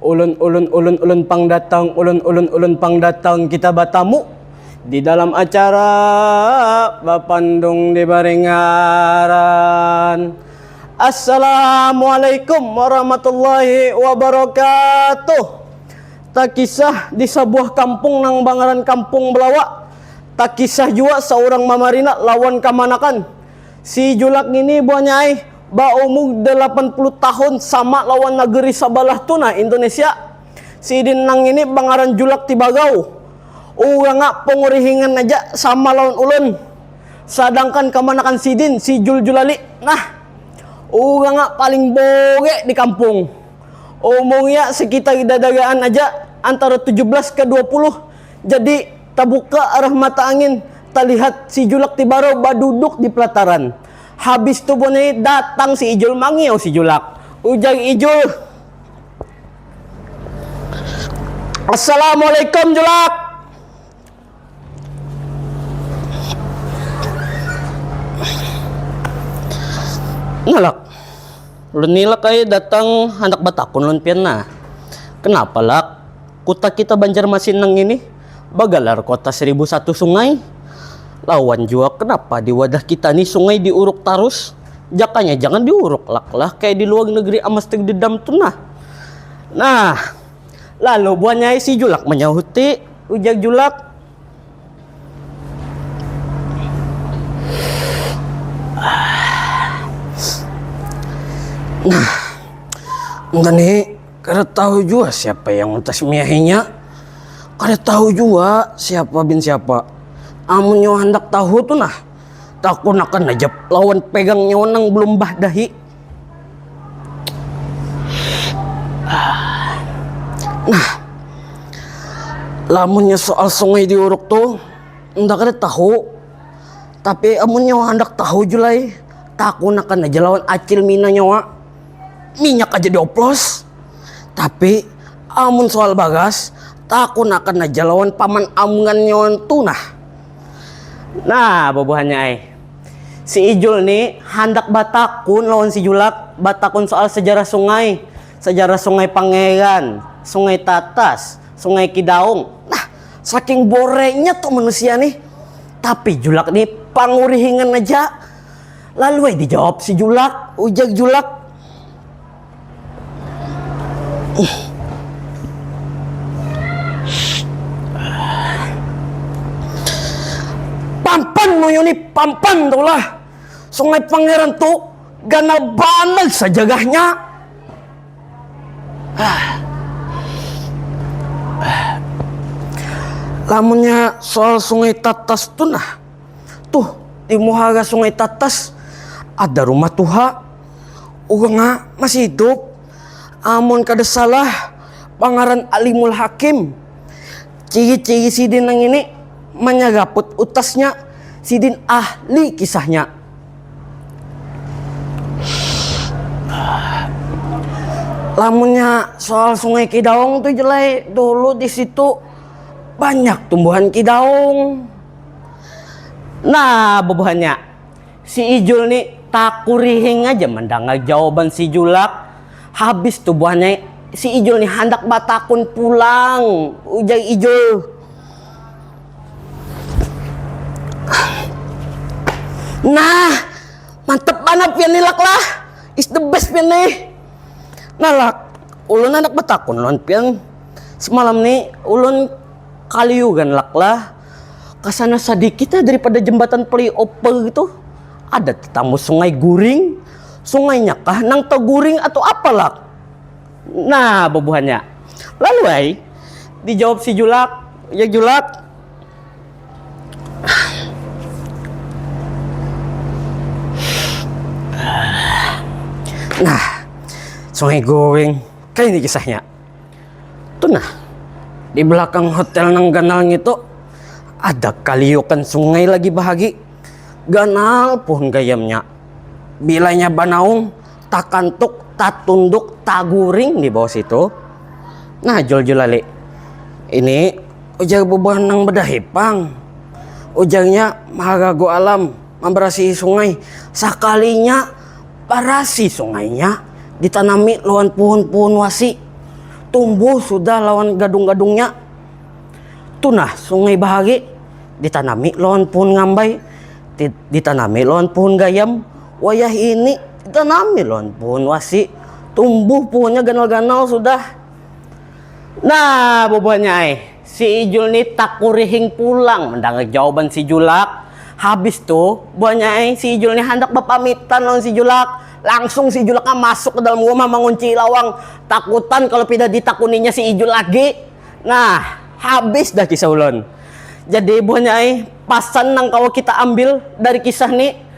Ulun ulun ulun ulun pang datang ulun ulun ulun pang datang kita batamu di dalam acara bapandung di Baringaran Assalamualaikum warahmatullahi wabarakatuh Takisah di sabuah kampung nang bangaran kampung Belawa takisah jua saurang mamarina lawan kamanakan. Si Julak ngini buhannya ai, baumur dalapan puluh tahun sama lawan nageri sabalah tu nah Indonesia. Sidin nang ngini bangaran Julak Tibagau. Urangnya pangurihingan aja sama lawan ulun. Sadangkan kamanakan sidin si Jul Julali nah. Urangnya paling bore di kampung. Umurnya sekitar dadaraan aja antara tujuh belas ka dua puluh. Jadi. Tabuka arah mata angin, talihat si Julak ti baru baduduk di pelataran. Habis tu buhan ini datang si Ijul mangiau si Julak. Ujar Ijul. Assalamualaikum Julak. Nalak. Ulun ni Lak ai datang handak batakun lawan pian nah. Kenapa Lak? Kuta kita Banjarmasin nang ini bagalar Kota Seribu Satu Sungai. Lawan jua kenapa di wadah kita ni sungai diuruk tarus? Jakanya jangan diuruk lak lah kaya di luag negeri Amasterdedam tu nah. Nah. Lalu buhannya ai si Julak manyahuti, ujar Julak. Nah, ngani kada tahu jua siapa yang mentasmiahinya. Kada tahu jua siapa bin siapa. Amun nyawa handak tahu tu nah, takunakan aja lawan pegang nyawa nang belum bah dahi. Nah, lamunnya soal sungai diuruk tuh nda kada tahu, tapi amun nyawa handak tahu julai takunakan aja lawan acil mina nyawa, minyak aja dioplos, tapi amun soal bagas takunakan aja lawan paman amngan nyawa ntu nah, nah bubuhannya ai. Si Ijul ni handak batakun lawan si Julak, batakun soal sejarah sungai, sejarah Sungai Pangeran, Sungai Tatas, Sungai Kidaung, nah saking borengnya tu manusia nih. Tapi Julak ni pangurihingan aja, lalu ai dijawab si Julak, ujar Julak. Pampan munyu ni pampan tu lah. Sungai Pangeran tu ganal banar sajarahnya. Lamunnya soal Sungai Tatas tu nah, tuh di muhara Sungai Tatas ada rumah tuha. Uganga masih hidup, amun kada salah pangaran Alimul Hakim. Ciri-ciri sidin nang ini manyaraput utasnya, sidin ahli kisahnya. Lamunnya soal Sungai Kidaung tu ja lai, dulu di situ banyak tumbuhan kidaung. Nah bubuhannya. Si Ijul ni takurihing haja mandangar jawaban si Julak. Habis tu buhannya si Ijul ni handak batakun pulang, ujar Ijul. Nah, mantap banar pian ni Lak lah, is the best pian nih. Nah Lak, ulun handak batakun lawan pian, semalam ni ulun kaliuran Lak lah. Kasana sadikit aja daripada jembatan flyover itu ada tetamu sungai guring. Sungainya kah nang taguring atau apa lak? Nah bubuhannya. Lalu ai dijawab si julak, ya julak. Nah sungai guring kaya ini kisahnya. Tunah, di belakang hotel nang ganal ngitu ada kaliukan sungai lagi bahagi. Ganal puhun gayamnya. Bilanya banaung, takantuk, tatunduk, taguring di bawah situ. Nah Jul Julali, ini ujar bubuhan nang badahi pang. Ujarnya maharagu alam, mambarasihi sungai. Sakalinya. barasi sungainya ditanami lawan puhun-puhun wasi, tumbuh sudah lawan gadung-gadungnya. Tu nah sungai bahari ditanami lawan puhun ngambai, ditanami lawan puhun gayam, wayah ini ditanami lawan puhun wasi, tumbuh puhunnya ganal-ganal sudah. Nah bubuhannya ai. Si Ijul ni takurihing pulang mandangar jawaban si Julak. Habis tu, buhannya ai si Ijul ni handak bapamitan lawan si Julak, langsung si Julak masuk ka dalam rumah manguncii lawang, takutan kalu pina ditakuninya si Ijul lagi. Nah, habis dah kisah ulun. Jadi buhannya ai, pasan nang kawa kita ambil dari kisah ni.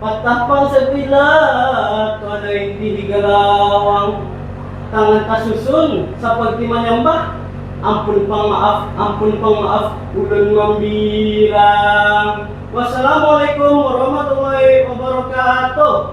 Patapa satila kada inti digalawang. Tangan tasusun saparti manyambah, Ampun pang maaf, ampun pang maaf, ulun mambilang. Wassalamualaikum warahmatullahi wabarakatuh.